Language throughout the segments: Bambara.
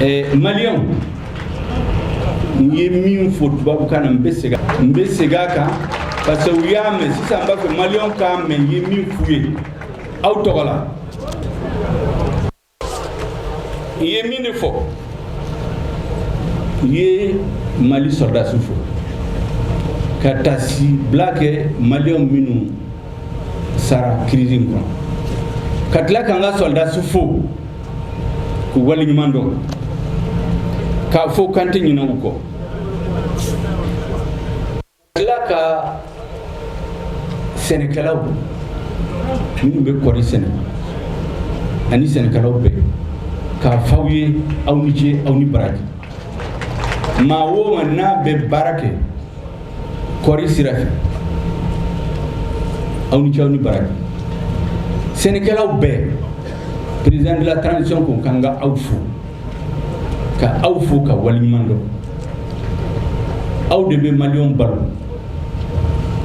ɛɛ maliyɛnw n ye min fɔ tubabukan na n bɛ segin n bɛ segin a kan parce que u y'a mɛn sisan n b'a fɛ maliyɛnw k'a mɛn n ye min f'u ye aw tɔgɔ la n ye min de fɔ n ye mali sɔrɔdasi fo ka taasibila kɛ maliyɛnw minnu sara crise in kɔnɔ ka tila k'an ka sɔrɔdasi fo k'u waleɲuman dɔn k'a fɔ k'an tɛ ɲinɛ u kɔ ka tila ka sɛnɛkɛlaw minnu bɛ kɔɔri sɛnɛ ani sɛnɛkɛlaw bɛɛ k'a f'aw ye aw ni ce aw ni baraji maa o maa n'a bɛ baara kɛ kɔɔri sira fɛ aw ni ce aw ni baraji sɛnɛkɛlaw bɛɛ président de la transition ko k'an ka aw fo ka aw fo ka waleɲuman dɔn aw de bɛ maliyɛnw balo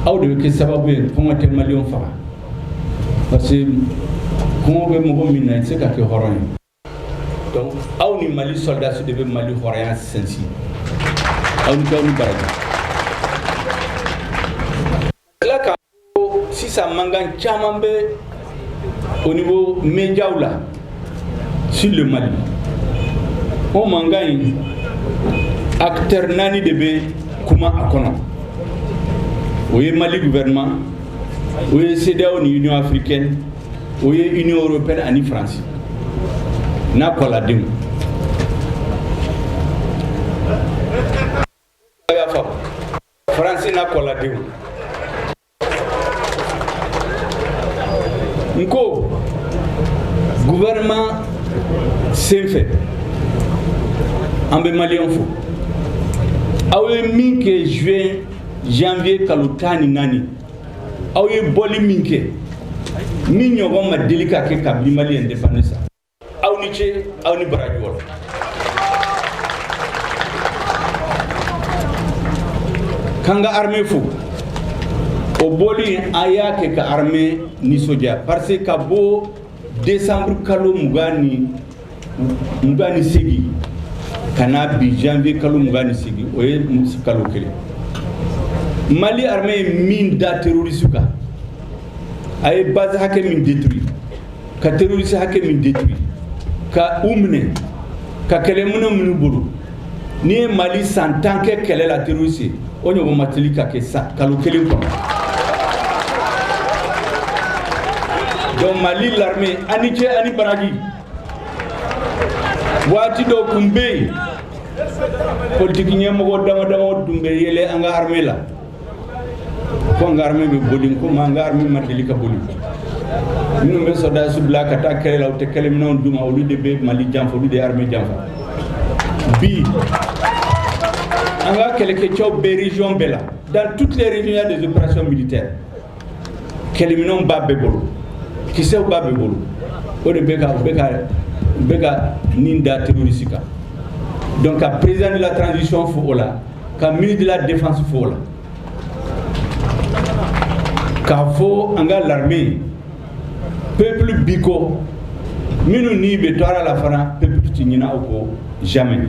aw de bɛ kɛ sababu ye kɔngɔ tɛ maliyɛnw faga parce que kɔngɔ bɛ mɔgɔ min na i tɛ se ka kɛ hɔrɔn ye aw ni mali sɔrɔdasi de bɛ mali hɔrɔnya sinsin aw ni ce aw ni baraji tila k'a fɔ sisan mankan caman bɛ au niveau médiaw la sur le mali o mankan in acteur naani de bɛ kuma a kɔnɔ o ye mali gouvernement o ye cedeao ni union africaine o ye union européenne ani france n'a kɔladenw a y'a faamu france n'a kɔladenw n ko gouvernement sen fɛ an bɛ maliyɛnw fo aw ye min kɛ juin janvier kalo tan ni naani aw ye bɔli min kɛ min ɲɔgɔn ma deli ka kɛ kabini mali indépendance aw ni ce aw ni baraji o la k'an ka armée fo o bɔli aw y'a kɛ ka armée nisɔndiya parce que ka bɔ décembre kalo mugan ni mugan ni segin ka na bi janvier kalo mugan ni segin o ye kalo kelen mali armée ye min da terroriste kan a ye base hakɛ min détruit ka terroriste hakɛ min détruit ka u minɛ ka kɛlɛminɛn minɛ u bolo n'i ye mali san tan kɛ kɛlɛ la terroriste o ɲɔgɔn ma deli ka kɛ kalo kelen kɔnɔ donc mali l'armée aw ni ce aw ni baraji waati dɔw kun bɛ yen politiki ɲɛmɔgɔ dama dama tun bɛ yɛlɛ an ka armée la ko an ka armée bɛ boli n ko u ma an ka armée ma deli ka boli minnu bɛ sɔrɔdasi bila ka taa kɛlɛ la u tɛ kɛlɛminɛnw d'u ma olu de bɛ mali janfa olu de ye armée janfa bi an ka kɛlɛkɛcɛw bɛ région bɛɛ la dans toutes les régions il y a des opérations militaires kɛlɛminɛnw b'a bɛɛ bolo kisɛw b'a bɛɛ bolo o de bɛ ka u bɛ ka u bɛ ka nin da terroriste kan donc ka président de la transition fo o la ka ministre de la défense fo o la k'a fɔ an ka l'armée peuple b'i kɔ minnu ni bɛɛ tora a la fana peuple tɛ ɲina u kɔ jamais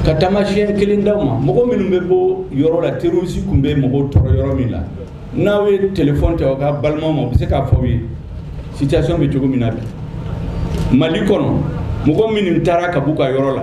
ka taamasiyɛn kelen d'aw ma mɔgɔ minnu bɛ bɔ yɔrɔ la terroriste tun bɛ mɔgɔw tɔɔrɔ yɔrɔ min la n'aw ye telefɔni ta aw ka balimaw ma u bɛ se k'a fɔ aw ye situation bɛ cogo min na bi mali kɔnɔ mɔgɔ minnu taara ka b'u ka yɔrɔ la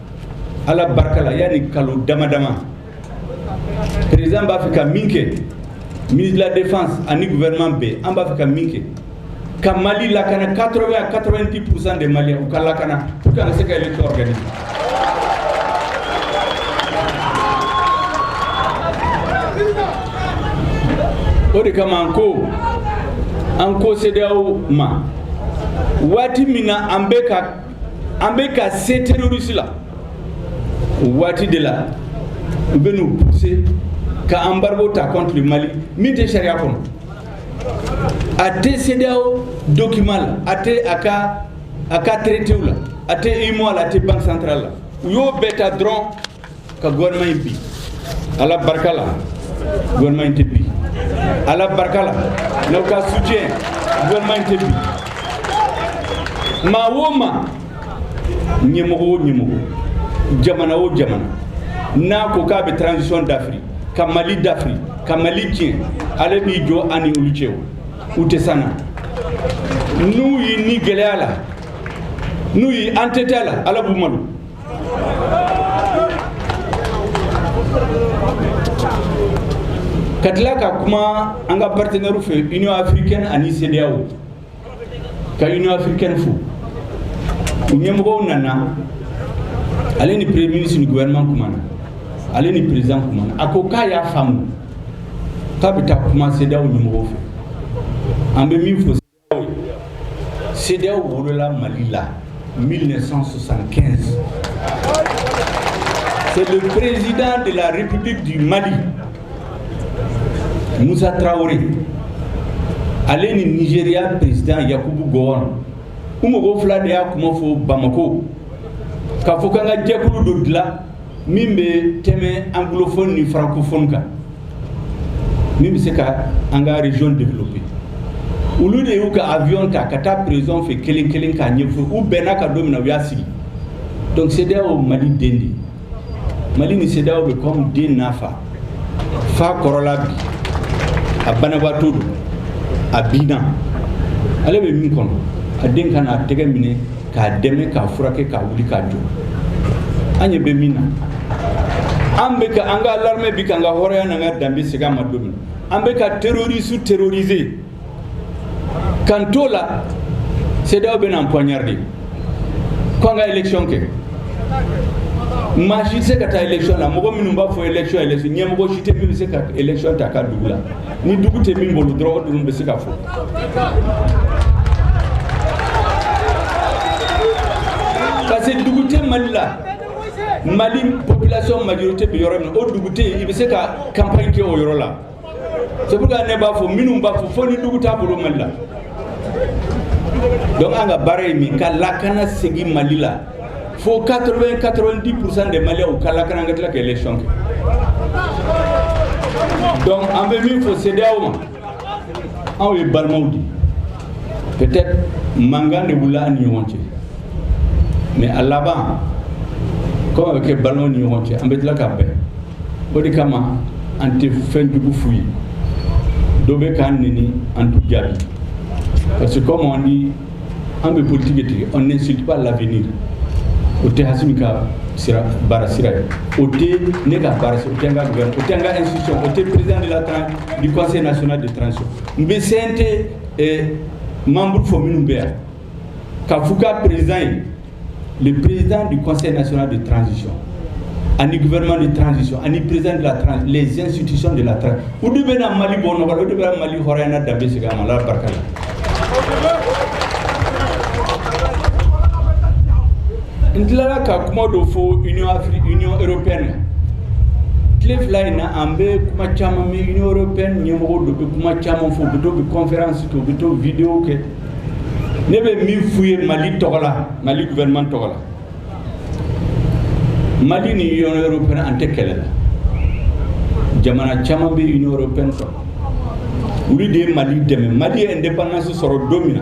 ala barikala yanni kalo dama dama président b'a fɛ ka min kɛ ministre de la défense ani gouvernement bɛɛ an b'a fɛ ka min kɛ ka mali lakana 80 à 90 pourcent des maliens u ka lakana pour que an ka se ka élection organiser o de kama an ko an ko CEDEAO ma waati min na an bɛ ka an bɛ ka se terroriste la o waati de la u bɛ n'u pousser ka embargo ta contre le Mali min tɛ sariya kɔnɔ a tɛ CEDEAO document la a tɛ a ka a ka traitéw la a tɛ UEMOA la a tɛ banque centrale la u y'o bɛɛ ta dɔrɔn ka gouvernement in bin ala barika la gouvernement in tɛ bin ala barika la n'aw ka soutien gouvernement in tɛ bin maa o maa ɲɛmɔgɔ o ɲɛmɔgɔ jamana o jamana n'a ko k'a bɛ transition dafiri ka mali dafiri ka mali tiɲɛ ala b'i jɔ an ni olu cɛ o u tɛ se an na n'u y'i ni gɛlɛya la n'u y'i an tɛ tɛ a la ala b'u malo ka tila ka kuma an ka partenaire fɛ union africaine ani CEDEAO ka union africaine fo u ɲɛmɔgɔ nana ale ni premier ministre ni gouvernement kumana ale ni président kumana a ko k'a y'a faamu k'a bɛ taa kuma CEDEAO ɲɛmɔgɔw fɛ an bɛ min fɔ CEDEAO wolola Mali la 1975. C'est le président de la République du Mali, Moussa Traoré, ale ni Nigeria président Yakubu Gowon u mɔgɔ fila de y'a kuma fɔ Bamako k'a fɔ k'an ka jɛkulu dɔ dilan min bɛ tɛmɛ anglophone ni francophone kan min bɛ se ka an ka région développer olu de y'u ka avion ta ka taa président fɛ kelen kelen k'a ɲɛfɔ u bɛnna a kan don min na u y'a sigi donc CEDEAO Mali den de Mali ni CEDEAO bɛ comme den n'a fa fa kɔrɔla bi a banabaatɔ don a binna ale bɛ min kɔnɔ a den ka n'a tɛgɛ minɛ k'a dɛmɛ k'a furakɛ k'a wuli k'a jɔ an ɲɛ bɛ min na an bɛ ka an ka l'armée bi k'an ka hɔrɔnya n'an ka danbe segin an ma don min an bɛ ka terroriste terroriser k'an t'o la CEDEAO bɛ n'an poignarder ko an ka élection kɛ maa si tɛ se ka taa élection na mɔgɔ minnu b'a fɔ élection élection ɲɛmɔgɔ si tɛ min bɛ se ka élection ta a ka dugu la ni dugu tɛ min bolo dɔrɔn de bɛ se k'a fɔ parce que dugu tɛ mali la mali population majorité bɛ yɔrɔ min o dugu tɛ yen i bɛ se ka campagne kɛ o yɔrɔ la c'est pourquoi ne b'a fɔ minnu b'a fɔ fo ni dugu t'a bolo mali la donc an ka baara ye min ka lakana segin mali la Fo 80 90 pourcent des Maliens u ka lakana an ka tila ka élection kɛ donc an bɛ min fɔ CEDEAO ma an ye balimaw di peut-être mankan de wulila an ni ɲɔgɔn cɛ mais a laban comme a bɛ kɛ balimaw ni ɲɔgɔn cɛ an bɛ tila ka bɛn o de kama an tɛ fɛn jugu f'u ye dɔ bɛ k'an neni an t'u jaabi parce que comme on dit an bɛ politigi de tigɛ on n'insulte pas l'avenir o tɛ Assimi ka sira baara sira ye o tɛ ne ka baara sira o tɛ n ka gouvernement o tɛ n ka institution o tɛ président de la tran du conseil national de transition n bɛ CNT eh, membre fɔ minnu bɛ yan k'a f'u ka président ye le président du conseil national de transition ani gouvernement de transition ani président de la transition les institutions de la transition o de bɛna mali bɔ nɔgɔ la o de bɛna mali hɔrɔnya n'a danbe segin a ma ala barika la n tilala ka kuma dɔ fɔ union afrique union européenne na tile fila in na an bɛ kuma caman mɛn union européenne ɲɛmɔgɔ dɔ bɛ kuma caman fɔ u bɛ to u bɛ conférence kɛ u bɛ to vidéo kɛ ne bɛ min f'u ye mali tɔgɔ la mali gouvernement tɔgɔ la mali ni union européenne an tɛ kɛlɛ la jamana caman bɛ union européenne sɔrɔ olu de ye mali dɛmɛ mali ye indépendance sɔrɔ don min na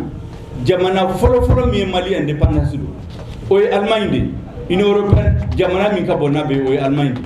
jamana fɔlɔfɔlɔ min ye mali indépendance dɔn o ye allemagne de ye union européenne jamana min ka bon n'a bɛɛ o ye allemagne de ye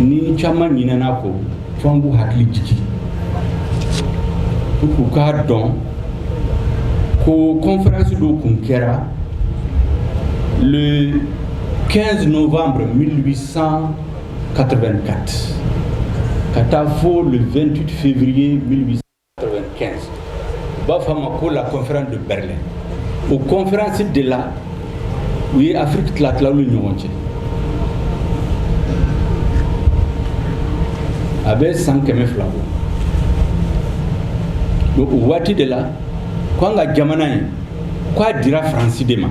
ni caman ɲinɛna a kɔ fo an k'u hakili jigin u k'a dɔn ko conférence dɔ kun kɛra le 15 novembre 1884 ka taa fo le 28 février 1800 95 u b'a fɔ a ma ko la conférence de Berlin o conférence de la u ye Afrique tila tila ni ɲɔgɔn cɛ a bɛ san kɛmɛ fila bɔ donc o waati de la ko an ka jamana in ko a dira faransi de ma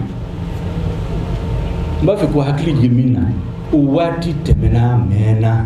n b'a fɛ k'u hakili jigin min na o waati tɛmɛna mɛɛnna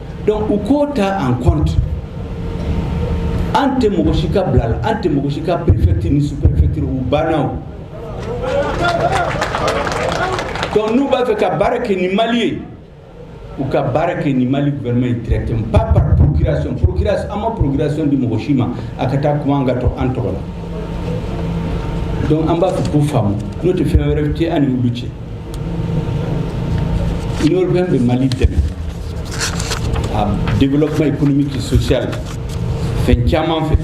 donc u k'o ta en compte an tɛ mɔgɔ si ka bila la an tɛ mɔgɔ si ka préfecture ni sous-préfecture o banna o donc n'u b'a fɛ ka baara kɛ ni Mali ye u ka baara kɛ ni Mali gouvernement ye directement pas par procuration procuration an ma procuration di mɔgɔ si ma a ka taa kuma an ka tɔ an tɔgɔ la donc an b'a fɛ u k'o faamu n'o tɛ fɛn wɛrɛ tɛ an ni olu cɛ L'union européenne bɛ Mali dɛmɛ a développement économique et social fɛn caman fɛ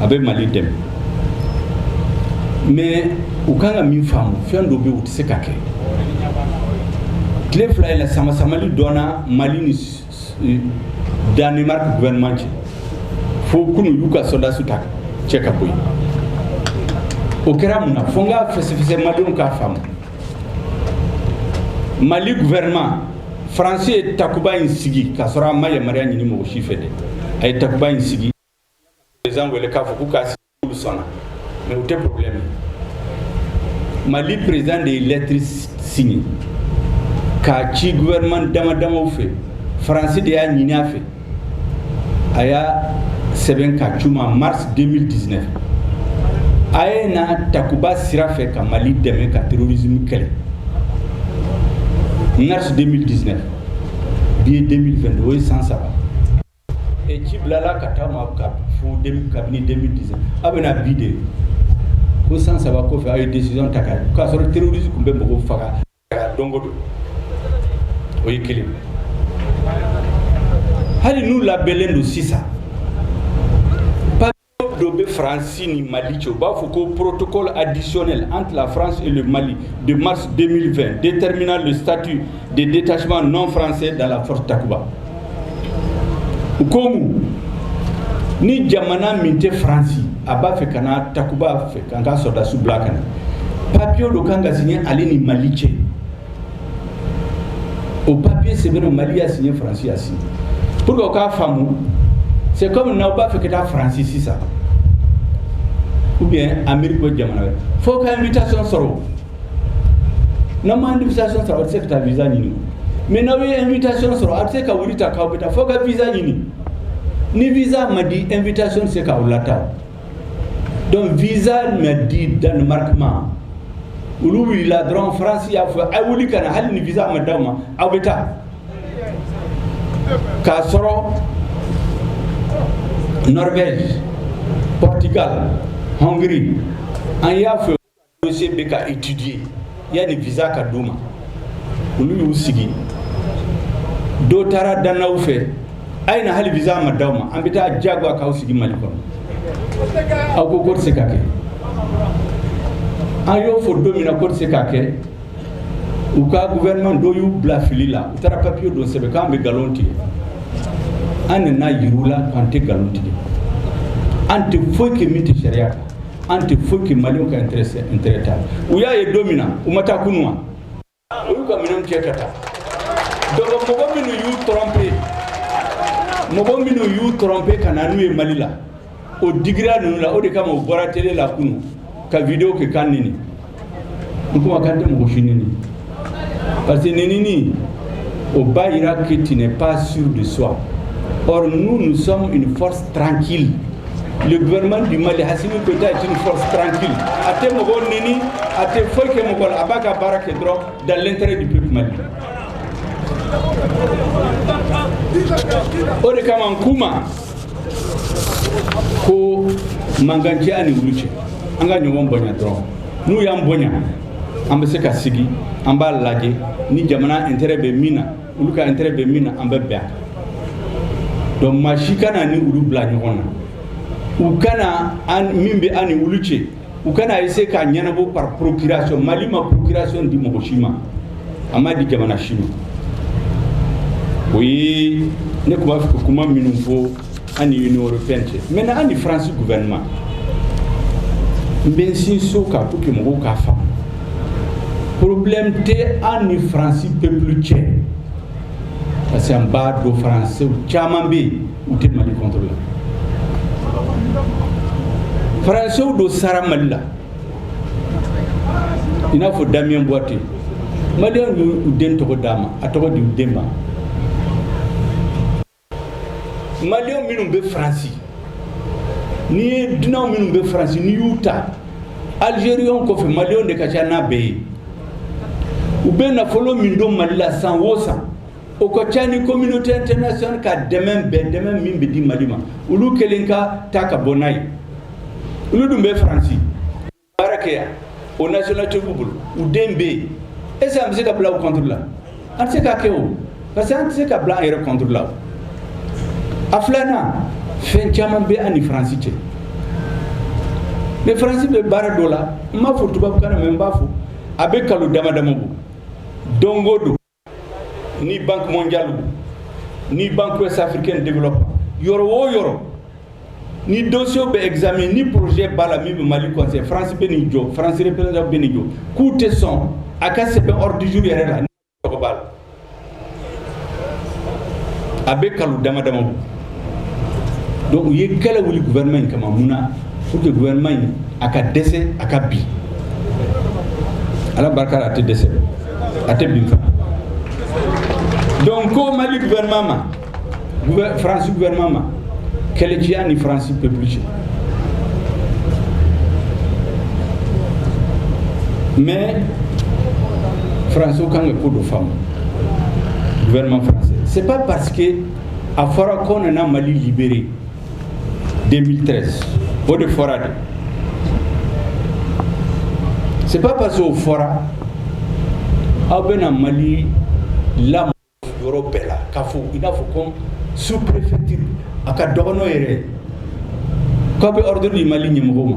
a bɛ Mali dɛmɛ mais u kan ka min faamu fɛn dɔ bɛ o tɛ se ka kɛ tile fila in na samasamali donna Mali ni Danemark gouvernement cɛ fo kunun u y'u ka sɔrɔdasiw ta cɛ ka bɔ yen o kɛra mun na fo n k'a fɛsɛfɛsɛ malidenw k'a faamu mali gouvernement faransi ye takuba in sigi k'a sɔrɔ a ma yamaruya ɲini mɔgɔ si fɛ dɛ a ye takuba in sigi européens wele k'a fɔ k'u k'a sigi Olu sɔnna mais o tɛ problème ye. Mali président de ye lettre signé k'a ci gouvernement damadamaw fɛ France de y'a ɲini a fɛ a y'a sɛbɛn k'a ci u ma mars 2019 a ye na takuba sira fɛ ka Mali dɛmɛ ka terrorisme kɛlɛ mars 2019 bi ye 2022 o ye san saba Ci bilala ka taa aw ma fo kabini 2019 aw bɛ na bi de ko san saba kɔfɛ aw ye décision ta ka na k'a sɔrɔ terrorisme tun bɛ mɔgɔw faga don o don o ye kelen hali n'u labɛnlen don sisan dɔ bɛ faransi ni mali cɛ u b'a fɔ ko protocole additionnel entre la france et le mali de mars 2020 déterminant le statut de détachement non français dans la force takuba u ko mun ni jamana min tɛ faransi a b'a fɛ ka na takuba fɛ k'an ka sɔrɔdasiw bila ka na papiye dɔ kan ka signer ale ni mali cɛ o papier sɛbɛnna mali y'a signé faransi y'a signé pour que o k'a faamu c'est comme n'aw b'a fɛ ka taa faransi sisan ou bien amérique ou jamana wɛrɛ fo aw ka invitation sɔrɔ n'aw ma invitation sɔrɔ aw tɛ se ka taa visa ɲini mais n'aw ye invitation sɔrɔ aw tɛ se ka wuli tan k'aw bɛ taa fo aw ka visa ɲini ni visa ma di invitation tɛ se k'aw lataa Donc visa ma di danemark ma olu wulila dɔrɔn faransi y'a fɔ a wuli ka na hali ni visa ma d'aw ma aw bɛ taa k'a sɔrɔ norvège portugal hongrie an y'a fɔ dossier bɛ ka étudier yanni visa ka d'u ma olu y'u sigi dɔ taara danois fɛ a ye na hali visa ma d'aw ma an bɛ taa diyagoya k'aw sigi mali kɔnɔ an ko k'o tɛ se ka kɛ an y'o fɔ don min na k'o tɛ se ka kɛ u ka gouvernement dɔ y'u bila fili la u taara papiye dɔ sɛbɛn k'an bɛ nkalon tigɛ an nana yir'u la k'an tɛ nkalon tigɛ an tɛ foyi kɛ min tɛ sariya kan an tɛ foyi kɛ maliw ka intérêt t'a la u y'a ye don min na u ma taa kunu wa u y'u ka minɛnw cɛ ka taa donc mɔgɔ minnu y'u tromper mɔgɔ minnu y'u tromper ka na n'u ye mali la o digira ninnu la o de kama u bɔra télé la kunu ka video kɛ k'an nɛni n ko a k'an tɛ mɔgɔ si nɛni parce que nɛnini o b'a yira que tu n'es pas sûr de soi or nous nous sommes une force tranquille le gouvernement du Mali Assimi Goïta est une force tranquille a tɛ mɔgɔ nɛni a tɛ foyi kɛ mɔgɔ la a b'a ka baara kɛ dɔrɔn dans l'intérêt du peuple malien o de kama n k'u ma ko mankan tɛ an ni olu cɛ an ka ɲɔgɔn bonya dɔrɔn n'u y'an bonya an bɛ se ka sigi an b'a lajɛ ni jamana intérêt bɛ min na olu ka intérêt bɛ min na an bɛ bɛn a kan donc maa si kana an ni olu bila ɲɔgɔn na u kana an min bɛ an ni olu cɛ u kana essayer k'a ɲɛnabɔ par procuration Mali ma procuration di mɔgɔ si ma a ma di jamana si ma o ye ne tun b'a fɛ ka kuma minnu fɔ an ni Union européenne cɛ maintenant an ni France gouvernement n bɛ n sinsin o kan pour que mɔgɔw k'a faamu problème tɛ an ni France peuple cɛ. parce que an b'a dɔn faransɛw caman bɛ yen u tɛ mali contre la faransɛw dɔ sara mali la i n'a fɔ Damien Boiteux maliyɛn y'u den tɔgɔ d'a ma a tɔgɔ di u den ma Maliyɛn minnu bɛ faransi n'i ye dunan minnu bɛ faransi n'i y'u ta alizeriyɛnw kɔfɛ maliyɛnw de ka ca n'a bɛɛ ye u bɛ nafolo min don mali la san o san o ka ca ni communauté internationale ka dɛmɛ bɛɛ dɛmɛ min bɛ di mali ma olu kelen ka ta ka bon n'a ye olu dun bɛ faransi baara kɛ yan o nationalité b'u bolo u den bɛ yen est ce que an bɛ se ka bila u contre la an tɛ se k'a kɛ o parce que an tɛ se ka bila an yɛrɛ contre la a filanan fɛn caman bɛ an ni faransi cɛ mais faransi bɛ baara dɔ la n m'a fɔ tubabukan na mais n b'a fɔ a bɛ kalo dama dama bɔ don o don ni banque mondiale ni banque ouest africaine de développement yɔrɔ o yɔrɔ ni dossier bɛ examiné ni projet b'a la min bɛ mali concerner france bɛ n'i jɔ france représentant bɛ n'i jɔ k'u tɛ sɔn a ka sɛbɛn ordre du jour yɛrɛ la ni tɔgɔ b'a la a bɛ kalo dama dama bɔ Don u ye kɛlɛ wuli wɛrɛma in kama mun na u tɛ wɛrɛma in a ka dɛsɛ a ka bi ala barika a tɛ dɛsɛ a tɛ bin fana don ko mali wɛrɛma ma faransi wɛrɛma ma kɛlɛciya ni faransi peplu cɛ mɛ faransiw kan ka ko don faamu wɛrɛma faransi se pa pa que a fɔra k'u nana mali libérer 2013 o de fɔra dɛ c'est pas parce que o fɔra aw bɛna mali lamɔ yɔrɔ bɛɛ la k'a fɔ i n'a fɔ ko sous préfecture a ka dɔgɔ n'o yɛrɛ k'aw bɛ ordre di mali ɲɛmɔgɔw ma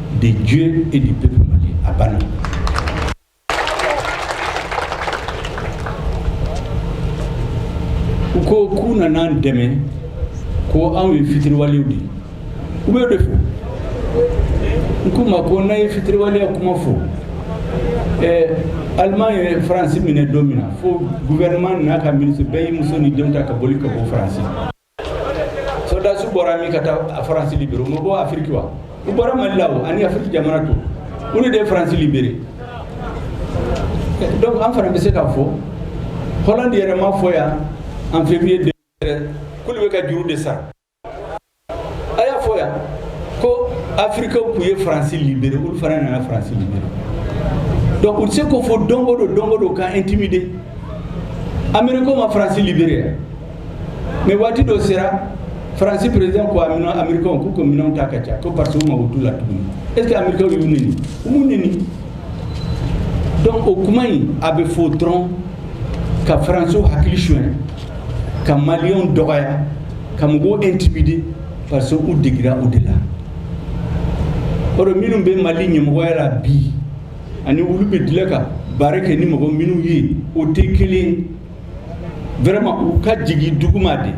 de Dieu et du peuple malien. A banna. U ko k'u nana an dɛmɛ ko anw ye fitiriwalew de ye u bɛ o de fɔ n k'u ma ko n'a ye fitiriwaleya kuma fɔ ɛɛ aliman ye faransi minɛ don min na fo guvɛrɛnman n'a ka minisiri bɛɛ y'i muso ni denw ta ka boli ka bɔ faransi sɔrɔdasi bɔra min ka taa faransi libere u ma bɔ afiriki wa u bɔra mali la o ani afiriki jamana tɔw olu de ye faransi libere donc an fana bɛ se k'a fɔ hollande yɛrɛ m'a fɔ yan en février 2013 k'olu bɛ ka juru de sara a y'a fɔ yan ko afirikaw tun ye faransi libere olu fana nana faransi libere donc u tɛ se k'o fɔ don o don don o don k'an intimider amerikɛnw ma faransi libere yan mɛ waati dɔ sera faransi perezidan ko a minɛn amerikɛnw k'u k'u minɛnw ta ka taa ko parce que u mago t'u la tuguni est ce que amerikɛnw y'u neni u m'u neni donc o kuma in a bɛ fɔ dɔrɔn ka faransiw hakili sonya ka maliyɛnw dɔgɔya ka mɔgɔw intimide parce que u degira o de la or minnu bɛ mali ɲɛmɔgɔya la bi ani olu bɛɛ delila ka baara kɛ ni mɔgɔ minnu ye o tɛ kelen ye vraiment u ka jigin duguma de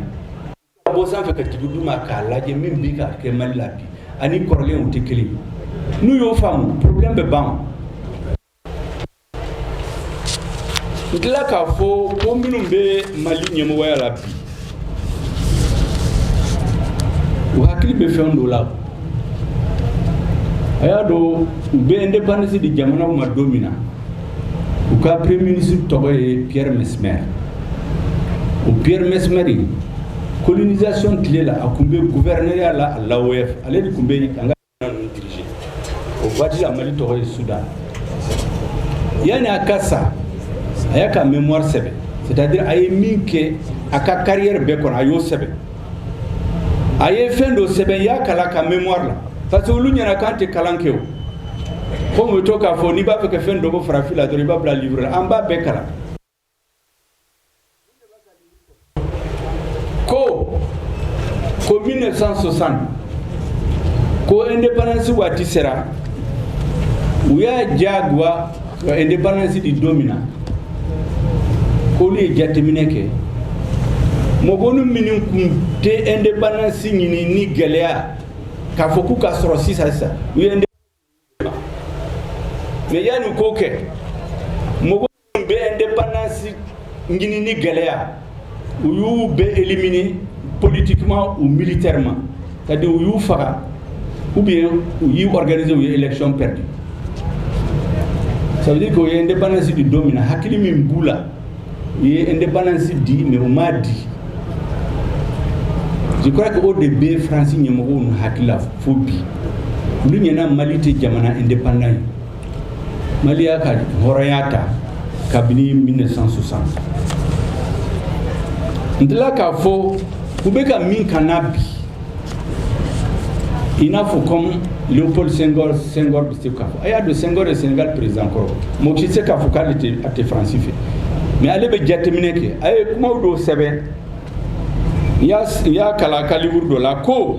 ka bɔ sanfɛ ka jigin duguma k'a lajɛ min bɛ ka kɛ mali la bi ani kɔrɔlen tɛ kelen n'u y'o faamu problème bɛ ban n delila k'a fɔ ko minnu bɛ mali ɲɛmɔgɔya la bi u hakili bɛ fɛn dɔ la a y'a dɔn u bɛ indépendance di jamana ma don min na u ka pe minisi tɔgɔ ye pɛ mɛ sɛ o pɛ mɛ sɛmɛri kolonzsion tile la a tun bɛ gu wɛrɛɛya la a la ale de tun bɛ yen an o waati a mali tɔgɔ ye suda yanni a ka sa a y'a ka mɛnmo sɛbɛnbɛ sɛtadi a ye min kɛ a ka kari yɛrɛ bɛɛ kɔnɔ a y'o sɛbɛnbɛ a ye fɛn dɔ sɛbɛn n y'a kalan a ka mémoire la parce que olu ɲɛna k'an tɛ kalan kɛ o komi u bɛ to k'a fɔ n'i b'a fɛ ka fɛn dogo farafin la dɔrɔn i b'a bila livre la an b'a bɛɛ kalan ko ko 1960 ko indépendance waati sera u y'a diyagoya Wa e ni balasi di don min na ko ye jateminɛ kɛ mɔgɔ ni minnu kun tɛ e de balasi ɲini ni gɛlɛya k'a fɔ k'u ka sɔrɔ sisan sisan u ye mɛ yan ni ko kɛ mɔgɔ bɛ e de balasi ɲini ni gɛlɛya u y'u bɛɛ éliminer politiquement ou militairement c'est à dire u y'u faga ou bien u y'u organiser u ye élection perdue ça veut dire que u ye indépendance di don min na hakili min b'u la u ye indépendance di mais u m'a di je crois que o de bɛ france ɲɛmɔgɔ ninnu hakili la fo bi olu ɲɛna mali tɛ jamana indépendant ye mali y'a ka hɔrɔnya ta kabini 1960 n tila k'a fɔ u bɛ ka min k'an na bi i n'a fɔ comme léopold senghor bɛ se k'a fɔ a y'a dɔn senghor ye sénégal président kɔrɔ mɔgɔ si tɛ se k'a fɔ k'ale tɛ a tɛ faransi fɛ mais ale bɛ jateminɛ kɛ a ye kumaw dɔw sɛbɛn n y'a kalan a ka liburu dɔ la k'a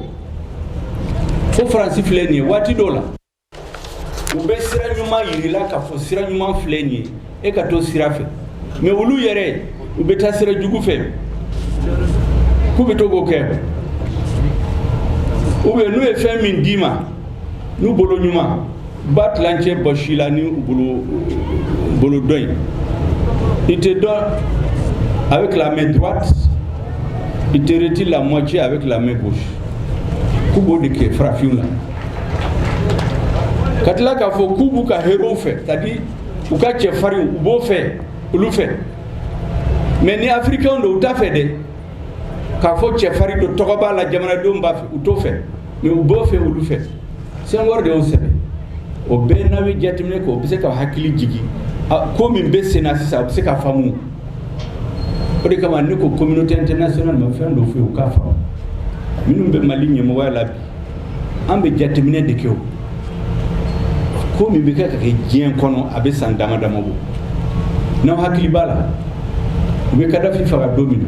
fɔ faransi filɛ nin ye waati dɔ la U bɛ sira ɲuman jir'i la k'a fɔ sira ɲuman filɛ nin ye e ka to sira fɛ mais olu yɛrɛ u bɛ taa sira jugu fɛ k'u bɛ to k'o kɛ u bɛ n'u ye fɛn min d'i ma n'u bolo ɲuman u b'a tilancɛ bɔs'i la ni bolo dɔ ye il te donne avec la main droite il te retire la moitié avec la main gauche k'u b'o de kɛ farafinw na ka tila k'a fɔ k'u b'u ka héros fɛ c'est à dire u ka cɛfarinw u b'o fɛ olu fɛ mais ni africain don u t'a fɛ dɛ k'a fɔ cɛfarin don tɔgɔ b'a la jamanadenw b'a fɛ u t'o fɛ mais u b'o fɛ olu fɛ senghor de y'o sɛbɛn o bɛɛ n'aw ye jateminɛ kɛ o bɛ se ka hakili jigin ko min bɛ sen na sisan a bɛ se k'a faamu o de kama ne ko communauté internationale ma fɛn dɔ f'u ye u k'a faamu minnu bɛ mali ɲɛmɔgɔya la bi an bɛ jateminɛ de kɛ ko min bɛ ka kɛ diɲɛ kɔnɔ a bɛ san dama dama bɔ n'aw hakili b'a la u bɛ kadafi faga don min na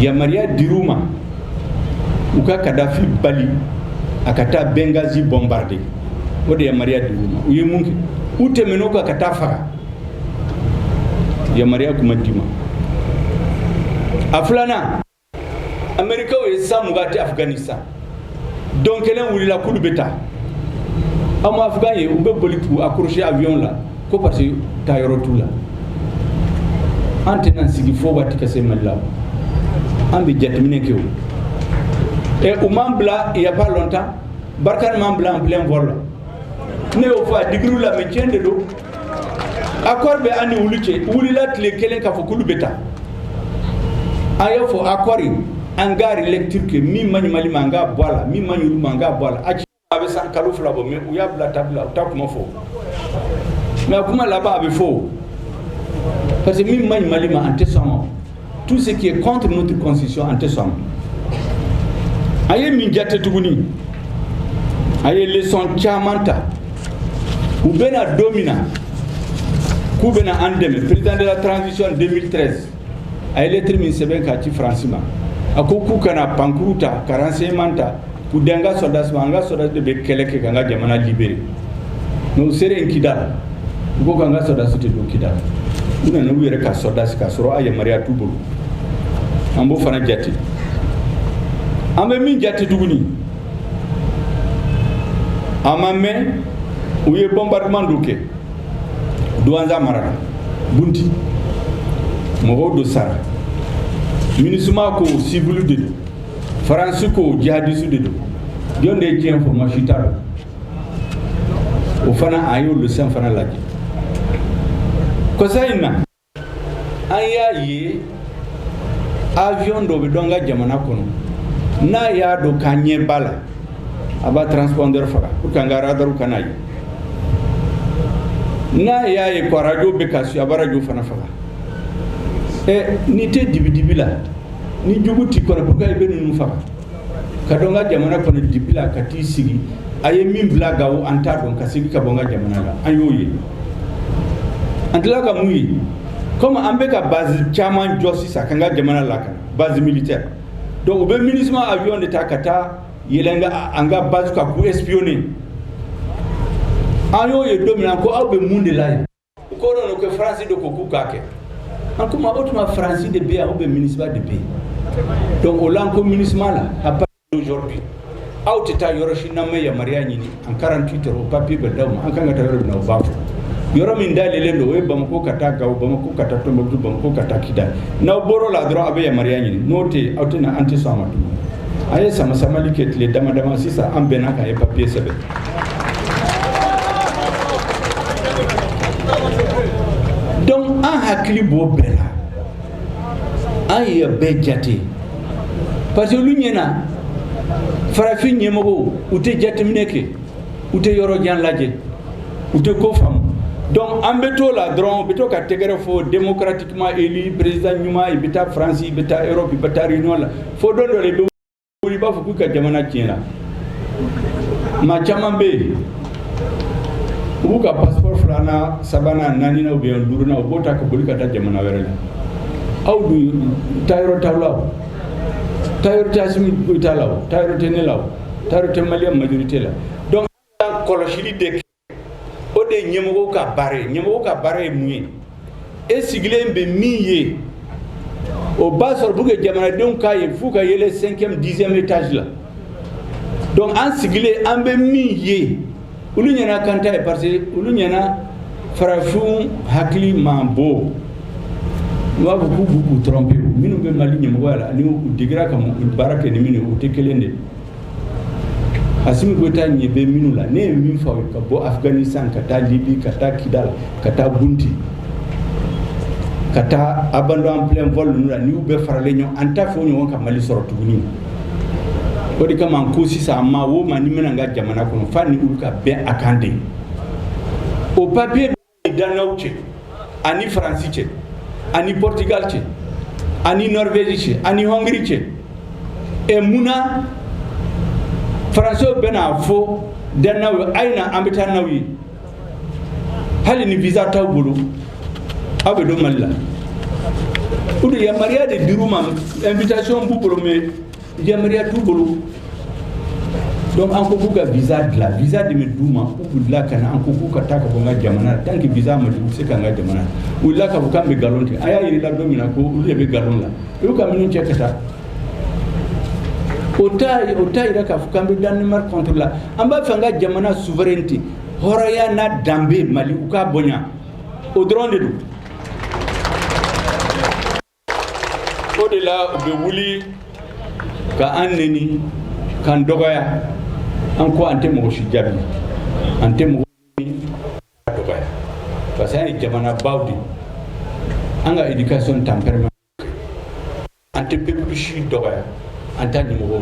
yamaruya dir'u ma u ka kadafi bali a ka taa benghazi bombarder o de yamaruya dir'u ma u ye mun kɛ u tɛmɛn'o kan ka t'a faga yamaruya kun ma d'u ma a filanan amerikaw ye san mugan kɛ afghanistan don kelen wulila k'olu bɛ taa aw ma afghanw ye u bɛ boli k'u accrocher avion la ko parce que taa yɔrɔ t'u la an tɛna sigi fo waati ka se mali la an bɛ jateminɛ kɛ o ɛ u m'an bila il y a pas longtemps barkhane m'an bila en plein vol la ne y'o fɔ a digir'u la mais tiɲɛ de don accord bɛ an ni olu cɛ u wulila tile kelen k'a fɔ k'olu bɛ taa a y'a fɔ accord in an k'a relecture kɛ min man ɲi mali ma an k'a bɔ a la min man ɲi olu ma an k'a bɔ a la a ci a bɛ san kalo fila bɔ mais u y'a bila tabila u t'a kuma fɔ mais a kuma laban a bɛ fɔ parce que min man ɲi mali ma an tɛ sɔn a ma tout ce qui est contre notre constitution an tɛ sɔn a ma an ye min jate tuguni an ye leçon caman ta u bɛ na don min na k'u bɛna an dɛmɛ président de la transition 2013 a ye lettre min sɛbɛn k'a ci faransi ma a ko k'u ka na pankurun ta ka renseignement ta K'u di an ka sɔrɔdasi ma, an ka sɔrɔdasi de bɛ kɛlɛ kɛ ka an ka jamana libérer mais u selen Kidal, u ko k'an ka sɔrɔdasi tɛ don Kidal, u nana n'u yɛrɛ ka sɔrɔdasi k'a sɔrɔ a yamaruya t'u bolo, an b'o fana jate, an bɛ min jate tuguni, a ma mɛn u ye bombardement dɔ kɛ Douentza mara la, Bunti, mɔgɔ dɔw sara, Minusma ko civil de don. faransi ko jihadisti de don jɔn de ye tiɲɛ fɔ maa si t'a dɔn o fana a y'o leçon fana lajɛ kɔsa in na an y'a ye avion dɔ bɛ don an ka jamana kɔnɔ n'a y'a dɔn k'an ɲɛ b'a la a b'a transpondeur faga pour que an ka radar kan'a ye n'a y'a ye ko radio bɛ kasi a b'a radio fana faga ɛ n'i tɛ dibidibi la ni jugu t'i kɔnɔ pourquoi i bɛ ninnu faga ka don an ka jamana kɔnɔ dibi la ka t'i sigi a ye min bila gawo an t'a dɔn ka segin ka bɔ an ka jamana la an y'o ye an tila ka mun ye comme an bɛ ka base caman jɔ sisan k'an ka jamana lakana base militaire donc u bɛ minusma avion de ta ka taa yɛlɛn an ka basew kan k'u espionner an y'o ye don min na an ko aw bɛ mun de la yen U ko non ko faransi de ko k'u k'a kɛ an ko mais o tuma faransi de bɛ yan ou bien minusma de bɛ yen donc o la an ko minusma la a ba aujourd'hui aw tɛ taa yɔrɔ si n'aw ma yamaruya ɲini en 48 heures o papier bɛ d'aw ma an kan ka taa yɔrɔ min na u b'a fɔ yɔrɔ min dayɛlɛlen don o ye bamako ka taa gawo bamako ka taa tombouctou bamako ka taa kidal n'aw bɔr'o la dɔrɔn aw bɛ yamaruya ɲini n'o tɛ yen aw tɛna an tɛ sɔn a ma tuguni a ye samasamali kɛ tile dama dama sisan an bɛnna k'a ye papier sɛbɛn Donc an hakili b'o bɛɛ la an y'a bɛɛ jate parce que olu ɲɛna farafin ɲɛmɔgɔw u tɛ jateminɛ kɛ u tɛ yɔrɔ jan lajɛ u tɛ ko faamu donc an bɛ to la dɔrɔn bɛ to ka tɛgɛrɛ fɔ démocratiquement élu président ɲuman i bɛ taa faransi i bɛ taa europe i bɛ taa réunion la fo don dɔ la wuli u b'a fɔ k'i ka jamana tiɲɛna maa caman bɛ yen u b'u ka passeport filanan sabanan naaninan ou bien duurunan u b'o ta ka boli ka taa jamana wɛrɛ la aw dun taayɔrɔ t'aw la o taayɔrɔ tɛ asimi goyita la o taayɔrɔ tɛ ne la o taayɔrɔ tɛ malien majorité la donc kɔlɔsili de o de ye ɲɛmɔgɔ ka baara ye ɲɛmɔgɔ ka baara ye mun ye e sigilen bɛ min ye o b'a sɔrɔ pour que jamanadenw k'a ye f'u ka yɛlɛn cinquième dixième étage la donc an sigilen an bɛ min ye olu ɲɛna k'an t'a ye parce que olu ɲɛna farafinw hakili man bon n b'a fɔ k'u b'u tromper minnu bɛ mali ɲɛmɔgɔya la ani u degera ka baara kɛ ni minnu ye u tɛ kelen de ye Asimi Goyita ɲɛ bɛ minnu la ne ye min f'aw ye ka bɔ Afghanistan ka taa Libye ka taa Kidal ka taa Gunti ka taa abandon en plein vol ninnu na ni u bɛɛ faralen ɲɔgɔn an t'a f'o ɲɔgɔn ka Mali sɔrɔ tuguni o de kama an ko sisan maa o maa n'i bɛ na an ka jamana kɔnɔ f'an ni olu ka bɛn a kan de o papier danoisw cɛ ani faransi cɛ ani portugal cɛ ani norvège cɛ ani hongrie cɛ ɛ mun na faransiw bɛna fɔ danoisw ye a ye na an bɛ taa n'aw ye hali ni visa t'aw bolo aw bɛ don mali la o de yamaruya de dir'u ma invitation b'u bolo mais Yamaruya t'u bolo donc an ko k'u ka visa dilan visa de bɛ d'u ma u b'u dilan ka na an ko k'u ka taa ka bɔ an ka jamana la tant que visa ma di u tɛ se ka na an ka jamana u wulila k'a fɔ k'an bɛ nkalon tigɛ an y'a yir'u la don min na ko olu de bɛ nkalon la u y'u ka minɛnw cɛ ka taa o t'a o t'a yira k'a fɔ k'an bɛ Danemark contre la an b'a fɛ an ka jamana souveraineté hɔrɔnya n'a danbe Mali u k'a bonya o dɔrɔn de don o de la u bɛ wuli ka an neni k'an dɔgɔya an ko an tɛ mɔgɔ si jaabi an tɛ mɔgɔ dɔgɔya parce que an ye jamana baw de an ka éducation tempérament an tɛ peuple si dɔgɔya an t'a ɲɛmɔgɔ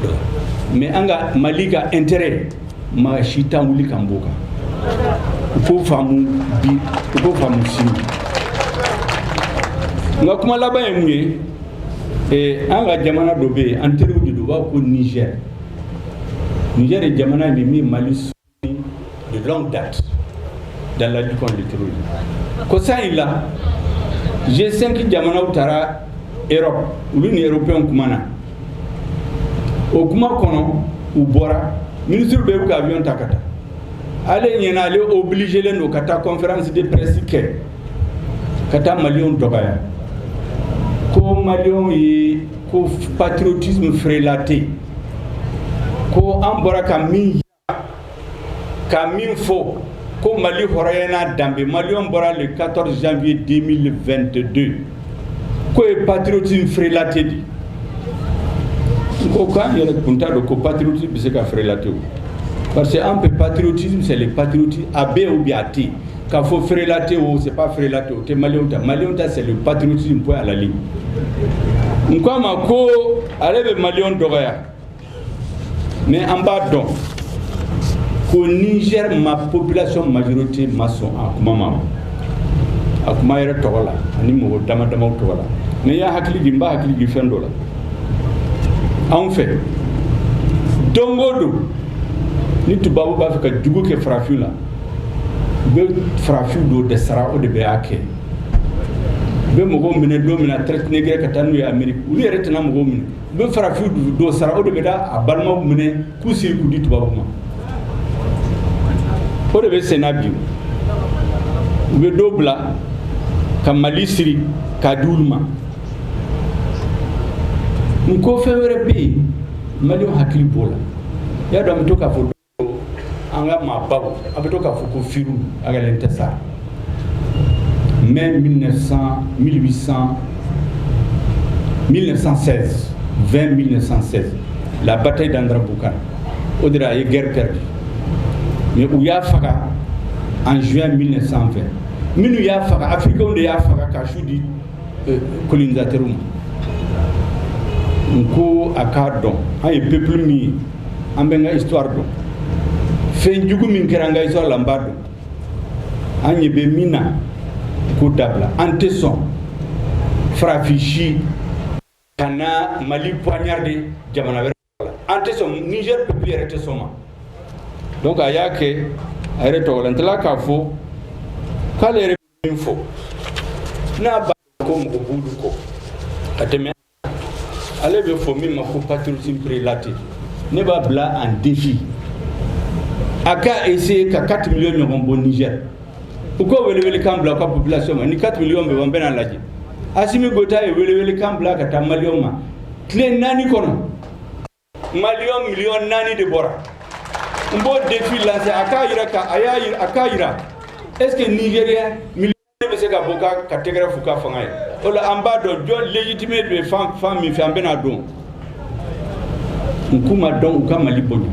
dɔ mais an ka mali ka intérêt maa si t'an wuli k'an b'o kan u k'o faamu bi u k'o faamu sini n ka kuma laban ye mun ye eh, an ka jamana dɔ bɛ yen an teriw de don u b'a fɔ ko Niger Niger ye jamana ye min mali de longue date dans la lutte contre le terrorisme. Kosa in la G5 jamanaw taara Europe olu ni Européens kumana o kuma kɔnɔ u bɔra ministre bɛɛ bɛ ka avion ta ka taa ale ɲɛna ale obligelen don ka taa conférence de presse kɛ ka taa maliyɛnw dɔgɔya ko maliyɛnw ye ko patriotisme frelaté ko an bɔra ka min Ka min fɔ ko mali hɔrɔnya n'a danbe mali bɔra de katɔ zfiye den 2 don ko ye batiriti feereerelatɛ de n ko k'an yɛrɛ kun t'a don ko batiriti bɛ se ka feereerelate parce que an bɛ batiriti seli batiriti a bɛ u bi a tɛ ka fɔ feereerelate o se feerelate o tɛ mali ta mali ta seli batiriti bɔ alali n ko a ma ko ale bɛ mali dɔgɔya mais an b'a dɔn ko nizɛri ma population majorité ma sɔn a kuma ma a kuma yɛrɛ tɔgɔ la ani mɔgɔ dama damaw tɔgɔ la n'i y'a hakili jigin n b'a hakili jigin fɛn dɔ la en fait don o don ni tubabu b'a fɛ ka jugu kɛ farafin la u bɛ farafin dɔ de sara o de b'a kɛ u bɛ mɔgɔw minɛ don min na traite négrière ka taa n'u ye amerique olu yɛrɛ tɛna mɔgɔw minɛ u bɛ farafin dɔ sara o de bɛ taa a balimaw minɛ k'u siri k'u di tubabu ma o de bɛ senna bi u bɛ dɔ bila ka mali siri k'a di olu ma n ko fɛn wɛrɛ bɛ yen maliyɛnw hakili b'o la y'a dɔn an bɛ to k'a fɔ an ka maa ba a bɛ to k'a fɔ ko fi a ka tɛ sa mɛ mi san mi san mi san fɛn mi san labata dan bukan o de a ye gɛrɛ kɛra mɛ u y'a faga an z mi san fɛ minnu y'a faga afiriw de y'a faga ka su di eh, kolondatɛr ma n ko a k'a dɔn an ye pep min ye an b'an ka histoire dɔn fɛn jugu min kɛra an ka histoire la an b'a dɔn an ɲɛ bɛ min na k'o dabila an tɛ sɔn farafin si ka na mali poignardé jamana wɛrɛ la an tɛ sɔn niger peuple yɛrɛ tɛ sɔn o ma donc a y'a kɛ a yɛrɛ tɔgɔ la n tila k'a fɔ k'ale yɛrɛ min fɔ n'a b'a ko mɔgɔ b'olu kɔ ka tɛmɛ ale bɛ fɔ min ma ko patriotisme frelaté ne b'a bila en défi a ka essayer ka 4 millions ɲɔgɔn bɔ Niger u ka welewelekan bila u ka population ma ni 4 millions bɛ bɔ an bɛna a lajɛ Asimi Goita ye welewelekan bila ka taa maliyɛnw ma tile naani kɔnɔ maliyɛn miliyɔn naani de bɔra n b'o defi lanse a k'a yira est ce que nigérien miliyɔn bɛ se ka bɔ ka ka tɛgɛrɛ f'u ka fanga ye o la an b'a dɔn jɔn légitimité bɛ fan fan min fɛ an bɛna a dɔn n k'u ma dɔn u ka mali bonya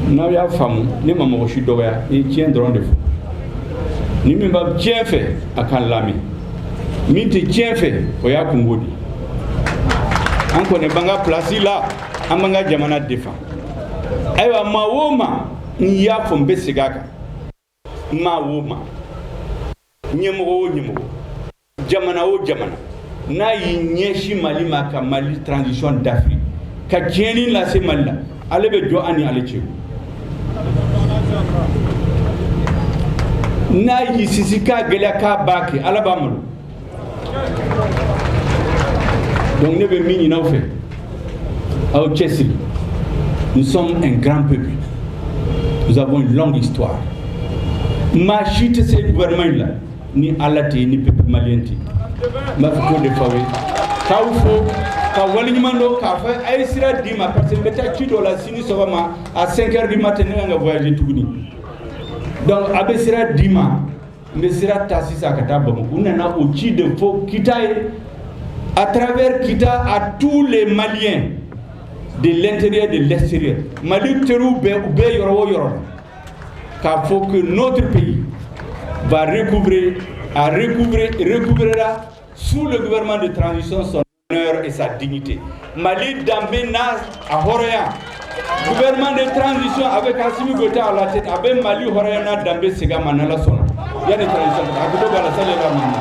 n'aw y'a faamu ne ma mɔgɔ si dɔgɔya n ye tiɲɛ dɔrɔn de fɔ ni min bɛ tiɲɛ fɛ a k'an lamɛn min tɛ tiɲɛ fɛ o y'a kunko de ye an kɔni b'an ka pilasi la an b'an ka jamana défendre ayiwa maa o maa n y'a fɔ n bɛ segin a kan maa o maa ɲɛmɔgɔ o ɲɛmɔgɔ jamana o jamana n'a y'i ɲɛsin mali ma ka mali transition dafiri ka tiɲɛni lase mali la ala bɛ jɔ an ni ale cɛ n'a y'i sinsin k'a gɛlɛya k'a b'a kɛ ala b'a malo Donc ne bɛ min ɲin'aw fɛ aw cɛsiri nous sommes un grand peuple nous avons une longue histoire maa si tɛ se gouvernement in la ni Ala tɛ ni peuple malien tɛ n b'a fɛ k'o de fɔ aw ye k'aw fo ka waleɲuman dɔn k'a fɔ a ye sira di n ma parce que n bɛ taa ci dɔ la sini sɔgɔma à 5 heures du matin ne ka kan ka voyager tuguni donc a bɛ sira di n ma. n bɛ sira ta sisan ka taa bamakɔ n nana o ci de fɔ kita ye à travers kita à tous les maliens de l'intérieur de l'extérieur mali teriw bɛɛ u bɛ yɔrɔ o yɔrɔ k'a fɔ que notre pays va recouvrer a recouvrer recouvrera sous le gouvernement de transition son honneur et sa dignité. Mali danbe n'a a hɔrɔnya gouvernement de transition avec Assimi Goïta à la tête a bɛ Mali hɔrɔnya n'a danbe segin a ma n'Ala sɔnna yanni transition a gindo b'a la sani